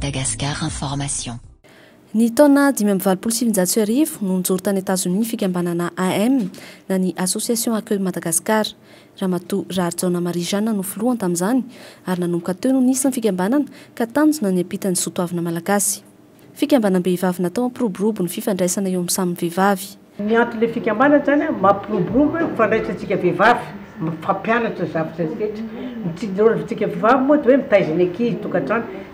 Madagascar Information. Ny taona dimy amby valopolo sy sivinjato sy arivo no nijoro tany Etazonia ny fikambanana AM na ny Association Accueille Madagascar. Ramatoa Raharijaona Marie Jeanne no filohany tamin'izany ary nanomboka teo no nisy ny fikambanana ka tanjona ny hampita ny soatoavina malagasy. Fikambanam-behivavy natao hampiroborobo ny fifandraisana eo amin'ny samy vehivavy. Ny anton'ilay fikambanana izany an, mampiroborobo hoe mifandraisantsika vehivavy, mifampianatra ny zavatra rehetra. Ny tsy ny rôle ntsika vehivavy moa dia hoe mitaiza ny ankizy, tokantrano,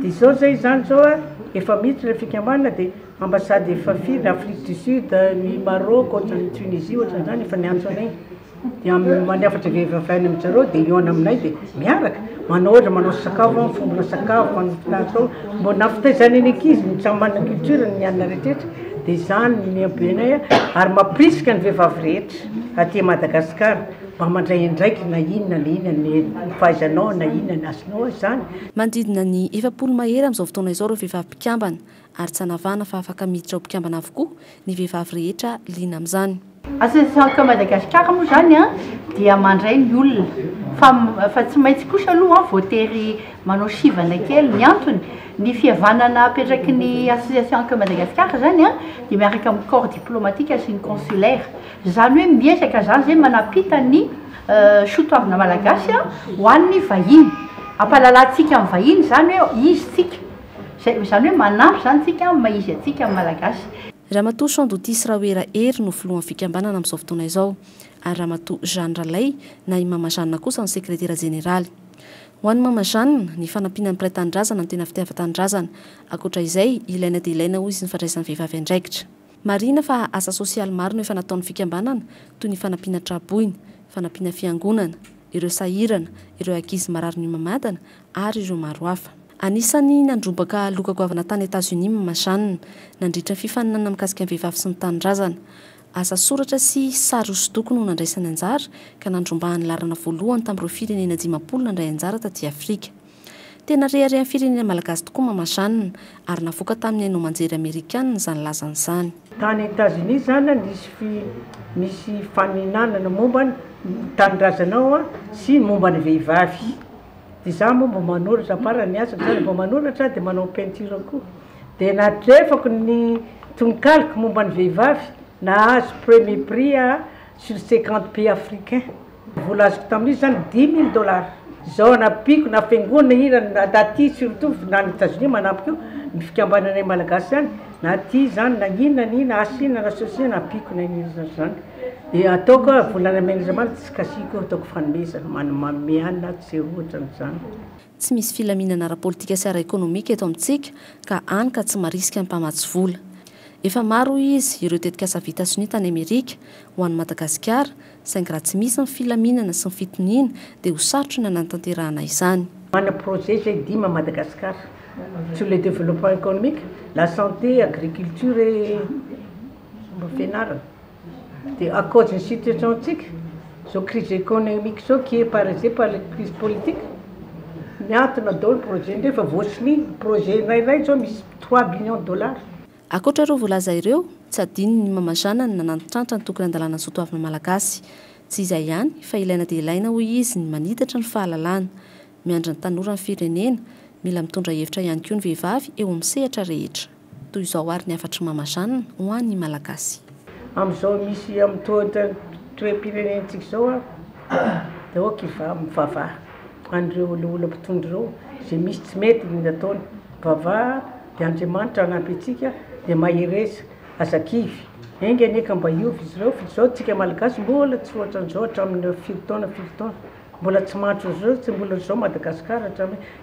Dia izao zay izany izao a, efa miditra ilay fikambanana dia ambassade efa firy, Afrique du Sud, ny Maroc, ohatran'ny Tunisie ohatran'izany efa niantso anay, dia mandrafatra vehivavy any amin-dry zareo dia hihaona aminay dia miaraka, manao ohatra manao sakafo an, mifombona sakafo, manao mpinatry ao, mba nampitaizana ny ankizy ny samy manana ny culture-ny ny anona rehetrarehetra, dia izany no nihambenay ary mampirisika ny vehivavy rehetra aty Madagasikara. Mba mandray andraikiny na inona na inona ny fahaizanao na inona ny azonao izany. Manodidina ny efapolo mahery amin'izao fotoana izao ireo vehivavy mpikambana ary tsy hanavahana fa afaka miditra ho mpikambana avokoa ny vehivavy rehetra liana amin'izany. Asan'ny Sandoka Madagasikara moa izany dia mandray ny olona fa tsy maintsy kosa aloha voatery manao sivana kely. Ny antony, ny fihavanana apetraky ny Association Sandoka Madagasikara izany dia miaraka amin'ny corps diplomatique sy ny consulaire. Izany hoe miezaka izany izay manapita ny soatoavina malagasy ho an'ny vahiny. Ampahalalantsika amin'ny vahiny izany hoe izy tsika. Izay izany hoe manampy izany tsika amin'ny maha izy antsika amin'ny malagasy. Ramatoa Champ Dotis Rahoera Hery no filohan'ny fikambanana amin'izao fotoana izao ary Ramatoa Jeanne Ralay na i Mama Jeanne kosa no sekretera jeneraly. Ho an'i Mama Jeanne, ny fanampiana ny mpiray tanindrazana no tena fitiavan-tanindrazana. Ankoatra izay, ilaina dia ilaina hoy izy ny fandraisan'ny vehivavy andraikitra. Marihina fa asa sosialy maro no efa nataon'ny fikambanana toy ny fanampiana tra-boina, fanampiana fiangonana, ireo sahirana, ireo ankizy marary mihomamadana ary ireo maro hafa. Anisan'ny nandrombaka loka goavana tany Etazonia Mama Jeanne nandritra ny fifaninanana mikasika ny vehivavy sy ny tanindrazana. Asa soratra sy sary hosodoko no nandraisany anjara ka nandrombahan'ny laharana voalohany tamin'ireo firenena dimampolo nandray anjara taty Afrika. Tena reharehan'ny firenena malagasy tokoa Mama Jeanne, ary navoaka tamin'ny haino aman-jery amerikanina izany lazany izany. Tany Etazonia izany nisy nisy faninanana momba ny tanindrazana ao sy ny momba ny vehivavy. Dia za moa mba manoratra, à part ny asako izany, mba manoratra dia manao peinture koa. Dia natrefako ny tononkaloko momba ny vehivavy, nahazo premier prix aho. sur cinquante pays africain vola azoko tamin'izy zany dix mille dollars zao anampiako na fiangonana ina na aty surtout na any Etats-Unis manampy koa ny fikambananay malagasy zany na aty zany na ina na ina asa ina na ceci na ampiako na ina ina zany de ataoko hoe volan'Andriamanitra tsy kasiako ataoko fanomezana manome anina tsy ohatran'izany. Tsy misy filaminana ara-politika sy ara-ekonomika eto amintsika ka hany ka tsy marisika ny mpamatsy vola. Efa maro hoy izy ireo tetikasa vita sonia tany Amerika ho an'i Madagasikara saingy raha tsy misy ny filaminana sy ny fitoniana dia ho sarotra ny hanatanterahana izany. Mana projet izay dimy à Madagascar sur le développement économique, la santé, agriculture et. Fomba fianarana. Dia à cause ny situation-tsika zao crise economique zao qui est parese par les crise politique miantona daholo projet ndreo efa voasiny projet iray iray zao misy trois billions dollars. Ankoatra ireo voalaza ireo, tsy adino ny mamazana ny nanantitrantitra ny tokony handalana ny soatoavina malagasy. Tsy izay ihany fa ilaina dia ilaina hoy izy ny manitatra ny fahalalana. Miandry ny tanora ny firenena, mila mitondra hevitra ihany koa ny vehivavy eo amin'ny sehatra rehetra. Toy izao ary ny hafatr'i Mama Jeanne ho an'ny Malagasy. Amin'izao misy amin'itony toem-pirenentsika izao aho dia aoka hivaha mivavaha an'ireo olioly mpitondra ireo izay misy tsy mety ny nataony. Mivavaha dia Andriamanitra hanampy antsika dia mahereza. Aza kivy. Enga anie ka mba hiova izy ireo f'izao tsika Malagasy mbola tsy ohatran'izao hatramin'ny firy taona firy taona. Mbola tsy mandry ohatran'izao tsy mbola izao Madagasikara hatramin'ny